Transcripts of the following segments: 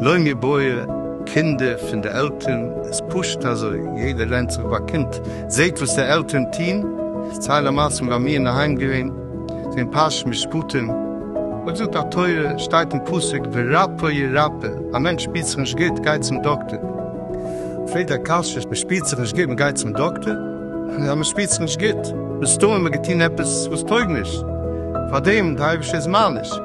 לוי מבויע, קינדער פון די עלטערן, איז פשוט אזוי, יעדער לערנט זיך ביי קינד, זעט וואס די עלטערן טוהן, איך צייל א מעשה פון ביי מיר אינדערהיים געווען, זעהן פרשת משפטים, וואס זאגט א תורה, שטייט אין פסוק ורפא ירפא, א מענטש שפירט זיך נישט גוט גייט צום דאקטער, פרעגט דער קשיא, מען שפירט זיך נישט גוט מען גייט צום דאקטער? יא מען שפירט זיך נישט גוט, מסתמא מען האט געטוהן עפעס וואס טויג נישט, פארדעם די אייבערשטער איז מעניש.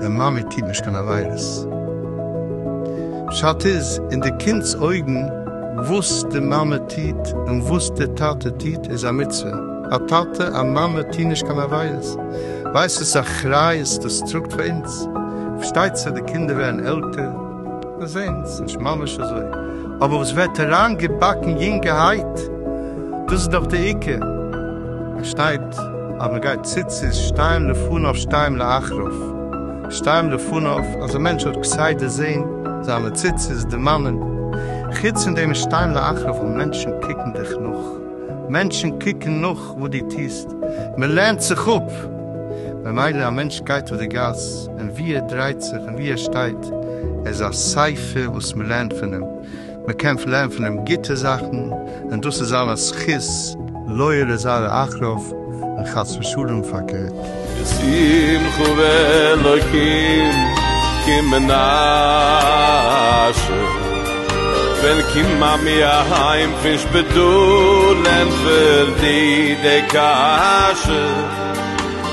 דער מאמע טוט נישט קיין עבירות. פשט איז, אין די קינד'ס אויגן, וואס די מאמע טוט און וואס די טאטע טוט איז א מצוה. א טאטע, א מאמע טוהן נישט קיין עבירות. ווייסט וואס אחריות דאס טראגט פאר אונז? פארשטייט זיך די קינדער ווערן עלטער. מיר זעהן עס נישט ממש אזוי, אבער עס ווערט אריין געבאקן יונגערהייט, דאס איז דאך די עיקר, עס שטייט אז מען גייט ציצית שתיים לפניו שתיים לאחריו, שתיים לפניו אז א מענטש האט כסדר זעהן זיינע ציצית די מנין, חוץ פון דעם איז שתיים לאחריו ווייל מענטשן קוקן דיך נאך, מענטשן קוקן נאך וואס דו טוסט, מען לערנט זיך אפ, ממילא א מענטש גייט אויף די גאס, און ווי ער דרייט זיך און ווי ער שטייט, ער איז א ספר וואס מען לערנט פון אים, מען קען לערנען פון אים גוטע זאכן, און דאס איז אלעס זכות לוי לזרע אחריו, און חס ושלום פארקערט. בשמחה ואלקים כי מנשה, ווען קומט מאמי אהיים פון שפיטאל ענטפערט די די קשיא.